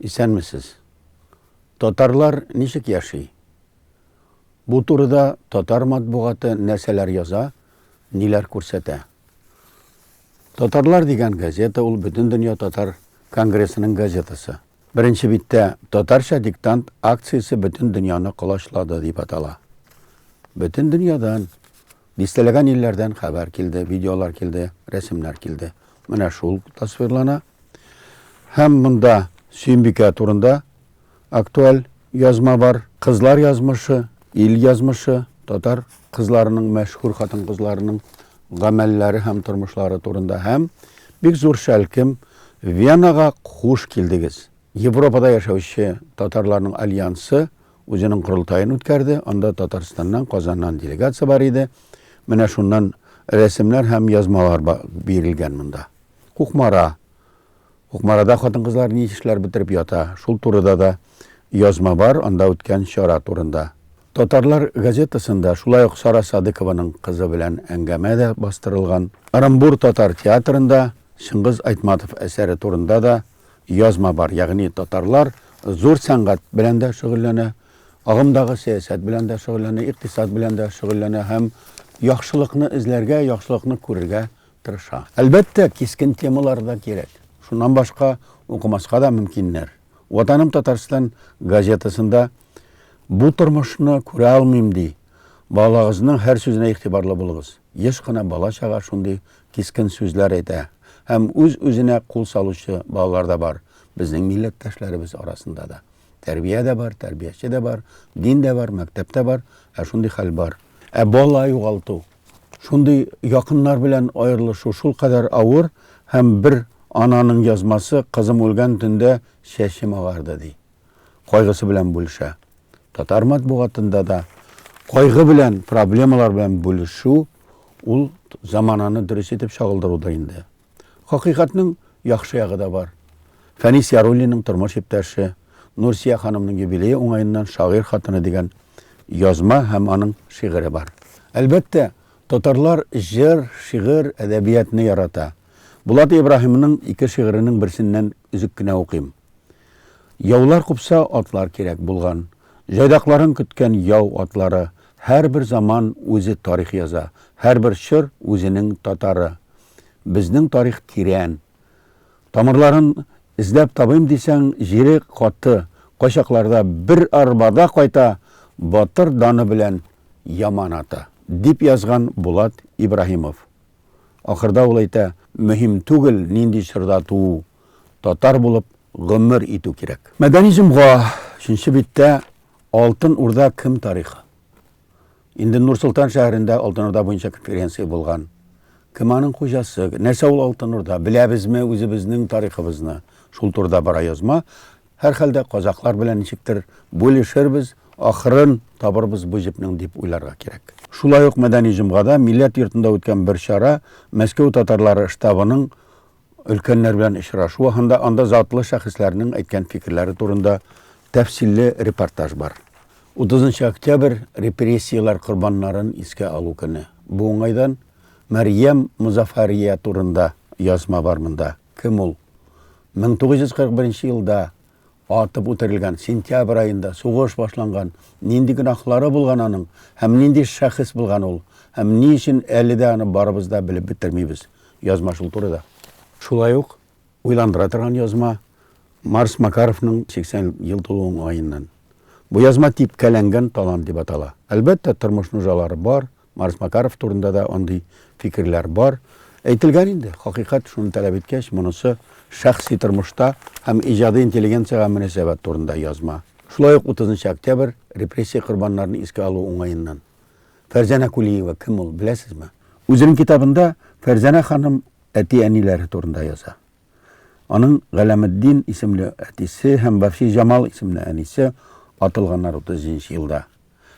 Исәнмесез. Татарлар ничек яши? Бу турыда татар матбугаты нәрсәләр яза, ниләр күрсәтә? Татарлар дигән газета ул бөтен дөнья татар конгрессының газетасы. Беренче биттә татарча диктант акциясе бөтен дөньяны колачлады дип атала. Бөтен дөньядан Дистәләгән илләрдән хәбәр килде, видеолар килде, рәсемнәр килде. Менә шул тасвирлана. Һәм монда Сөембикә турында актуаль язма бар. Кызлар язмышы, ил язмышы, татар кызларының, мәшһүр хатын-кызларының гамәлләре һәм тормышлары турында һәм бик зур шәлкем Венага хуш килдегез. Европада яшәүче татарларның альянсы Үзенең корылтаен үткәрде, анда Татарстаннан, Казаннан делегация бар иде. Менә шуннан рәсемнәр һәм язмалар бирелгән монда. Кукмара. Кукмарада хатын-кызлар ни эшләр бетереп ята, шул турыда да язма бар, анда үткән чара турында. Татарлар газетасында шулай ук Сара Садыкованың кызы белән әңгәмә дә бастырылган. Ырымбур татар театрында Чыңгыз Айтматов әсәре турында да язма бар, ягъни татарлар зур сәнгать белән дә шөгыльләнә, агымдагы сәясәт белән дә шөгыльләнә, икътисад белән дә шөгыльләнә һәм яхшылыкны эзләргә, яхшылыкны күрергә тырыша. Әлбәттә, кискен темалар да кирәк. Шуннан башка укымаска да мөмкиннәр. Ватаным Татарстан газетасында Бу тормышны күрә алмыйм, ди. Балагызның һәр сүзенә игътибарлы булыгыз. Еш кына бала-чага шундый кискен сүзләр әйтә һәм үз-үзенә кул салучы балалар да бар, безнең милләттәшләребез арасында да. Тәрбия дә бар, тәрбияче дә бар, дин дә бар, мәктәп тә бар, ә шундый хәл бар. Ә бала югалту, шундый якыннар белән аерылышу шулкадәр авыр һәм бер ананың язмасы, Кызым үлгән төндә чәчем агарды, ди. кайгысы белән бүлешә. Татар матбугатында да кайгы белән, проблемалар белән бүлешү ул замананы дөрес итеп чагылдыруда инде. Хакыйкатьнең яхшы ягы да бар. Фәнис Яруллинның тормыш иптәше, Нурсия ханымның юбилее уңаеннан шагыйрь хатыны дигән язма һәм аның шигыре бар. Әлбәттә, татарлар җыр, шигырь, әдәбиятны ярата. Булат Ибраһимның ике шигыренең берсеннән өзек кенә укыйм. Яулар купса, атлар кирәк булган. Җайдакларын көткән яу атлары. Һәрбер заман үзе тарих яза. Һәрбер чор үзенең татары. Безнең тарих тирән. Тамырларын эзләп табыйм дисәң, җире каты. Кайчакларда бер арбада кайта батыр даны белән яманаты, дип язган Булат Ибраһимов. Ахырда ул әйтә, Мөһим түгел, нинди чорда туу, татар булып гомер итү кирәк. Модернизмга, өченче биттә, Алтын Урда кем тарихы. Инде Нур-Солтан шәһәрендә Алтын Урда буенча конференция булган. Кем аның хуҗасы, нәрсә ул Алтын Урда, беләбезме үзебезнең тарихыбызны? Шул турыда бара язма. Һәрхәлдә, казакълар белән ничектер бүлешербез, ахырын табырбыз бу җепнең дип уйларга кирәк. Шулай ук Мәдәни җомгада Милләт йортында үткән бер чара Мәскәү татарлары штабының өлкәннәр белән очрашуы һанда анда затлы шәхесләрнең әйткән фикерләре турында тәфсилле репортаж бар. Утызынчы октябрь, репрессияләр корбаннарын искә алу көне. Бу уңайдан Мәрьям Мозафария турында язма бар монда. Кем ул? 1941 елда атып үтерелгән, сентябрь аенда сугыш башланган, нинди гөнаһлары булган аның һәм нинди шәхес булган ул, һәм ни өчен әле дә аны барыбыз да белеп бетермибез. Язма шул турыда. Шулай ук уйландыра торган язма Марс Макаровның 80 ел тулуы уңаеннан. Бу язма типкәләнгән талант дип атала. Әлбәттә, тормыш нужалары бар, Марс Макаров турында да андый фикерләр бар. Әйтелгән инде, хакыйкать шуны таләп иткәч, монысы шәхси тормышта һәм иҗади интеллигенциягә мөнәсәбәт турында язма. Шулай ук 30 октябрь репрессия корбаннарын искә алу уңаеннан. Фәрзәнә Кулиева кем ул, беләсезме? Үзенең китабында Фәрзәнә ханым әти-әниләре турында яза. Аның Галәметдин исемле әтисе һәм Бәхшиҗамал исемле әнисе атылганнар 30 нчы елда.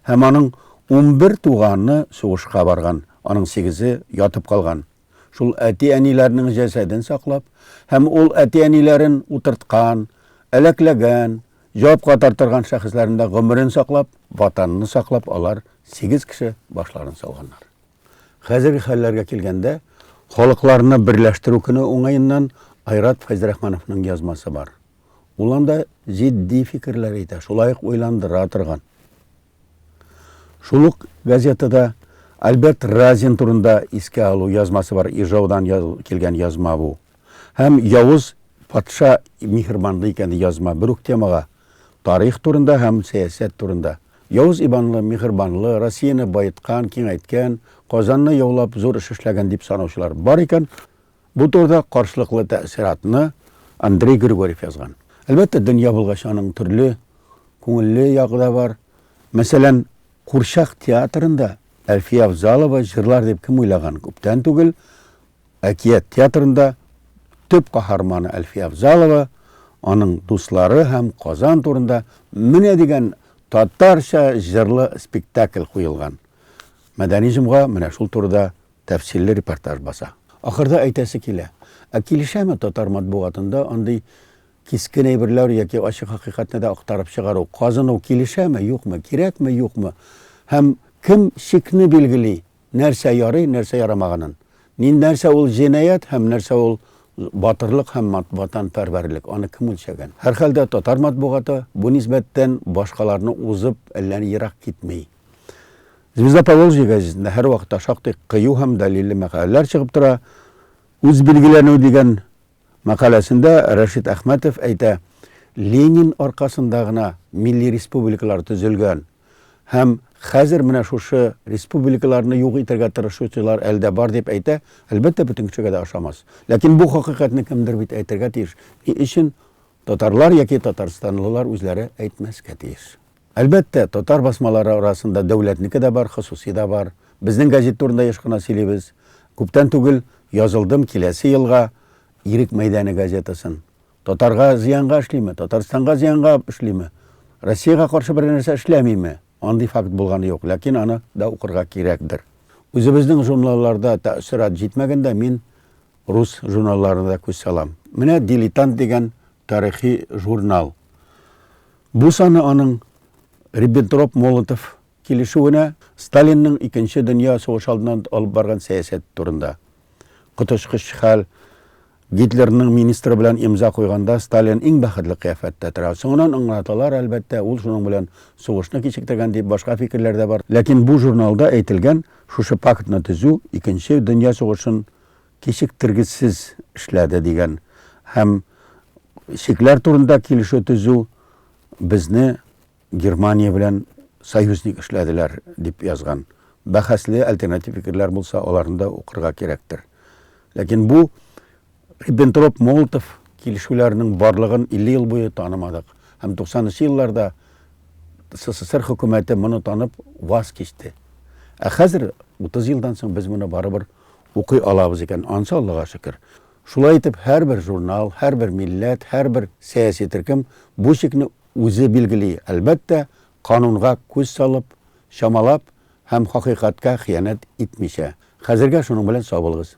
Һәм аның унбер туганы сугышка барган, аның сигезе ятып калган. Шул әти-әниләрнең җәсәден саклап һәм ул әти-әниләрен утырткан, әләкләгән, җавапка тартырган шәхесләрендә гомерен саклап, Ватанны саклап алар сигез кеше башларын салганнар. Хәзерге хәлләргә килгәндә, Халыкларны берләштерү көне уңаеннан Айрат Фәйзрахмановның язмасы бар. Ул анда җитди фикерләр әйтә, шулай ук уйландыра торган. Шул ук газетада Альберт Разин турында искә алу язмасы бар, Ижаудан килгән язма бу. Һәм Явыз патша миһербанлы икән язма, бер үк темага. Тарих турында һәм сәясәт турында. Явыз Иванлы, миһербанлы, Россияне баеткан, киңәйткән, Казанны яулап, зур эш эшләгән дип санаучылар бар икән, бу турыда каршылыклы тәэссиратны Андрей Григорьев язган. Әлбәттә, дөнья булгач, аның төрле күңелле ягы да бар. Мәсәлән, курчак театрында Әлфия Авзалова җырлар дип кем уйлаган? Күптән түгел Әкият театрында төп каһарманы Әлфия Авзалова, аның дуслары һәм Казан турында менә дигән татарча җырлы спектакль куелган. Мәдәни җомга менә шул турыда тәфсилле репортаж баса. Ахырда әйтәсе килә, ә килешәме татар матбугатында андый кискен әйберләр яки ачык хакыйкатьне дә актарып чыгару, казыну килешәме, юкмы, кирәкме, юкмы һәм кем чикне билгели, Нәрсә ярый, нәрсә ярамаганын. Ни нәрсә ул җинаять һәм нәрсә ул батырлык һәм мат ватанпәрвәрлек, аны кем үлчәгән? Һәрхәлдә татар матбугаты бу нисбәттән башкаларны узып әллә ни ерак китми. Звезда Поволжья гәзитендә һәрвакытта шактый кыю һәм дәлилле мәкаләләр чыгып тора. Үзбилгеләнү дигән Мәкаләсендә Рәшит Әхмәтов әйтә, Ленин аркасында гына милли республикалар төзелгән һәм хәзер менә шушы республикаларны юк итәргә тырышучылар әле дә бар дип әйтә, әлбәттә, бөтен кешегә дә ошамас. Ләкин бу хакыйкатьне кемдер бит әйтергә тиеш, ни өчен татарлар яки татарстанлылар үзләре әйтмәскә тиеш? Әлбәттә, татар басмалары арасында дәүләтнеке дә бар, хосусый да бар. Безнең газет турында еш кына сөйлибез. Күптән түгел язылдым Киләсе елга Ирек мәйдане газетасын. Татарга зыянга эшлиме, Татарстанга зыянга эшлиме, Россиягә каршы бер нәрсә эшләмиме, андый факт булганы юк, ләкин аны да укырга кирәкдер. Үзебезнең журналларда тәэссорат җитмәгәндә, мин рус журналларына да күз салам. Менә Дилетант дигән тарихи журнал. Бу саны аның Риббентроп-Молотов килешүенә, Сталинның Икенче дөнья сугышы алдыннан алып барган сәясәте турында. Коточкыч хәл, Гитлерның министры белән имза куйганда Сталин иң бәхетле кыяфәттә тора. Соңыннан аңлаталар, әлбәттә, ул шуның белән сугышны кичектергән дип, башка фикерләр дә бар. Ләкин бу журналда әйтелгән шушы пактны төзү Икенче дөнья сугышын кичектергесез эшләде дигән һәм чикләр турында килешү төзү безне Германия белән союзник эшләделәр дип язган. Бәхәсле альтернатив фикерләр булса, аларны да укырга кирәктер. Ләкин бу Риббентроп-Молотов килешүләренең барлыгын 50 ел буе танымадык. Һәм 90 нчы елларда СССР хөкүмәте моны танып ваз кичте. Ә хәзер, 30 елдан соң, без моны барыбер укый алабыз икән, ансы Аллага шөкер. Шулай итеп, һәрбер журнал, һәрбер милләт, һәрбер сәяси төркем бу чикне үзе билгели, әлбәттә, канунга күз салып, чамалап һәм хакыйкатькә хыянәт итмичә. Хәзергә шуның белән сау булыгыз.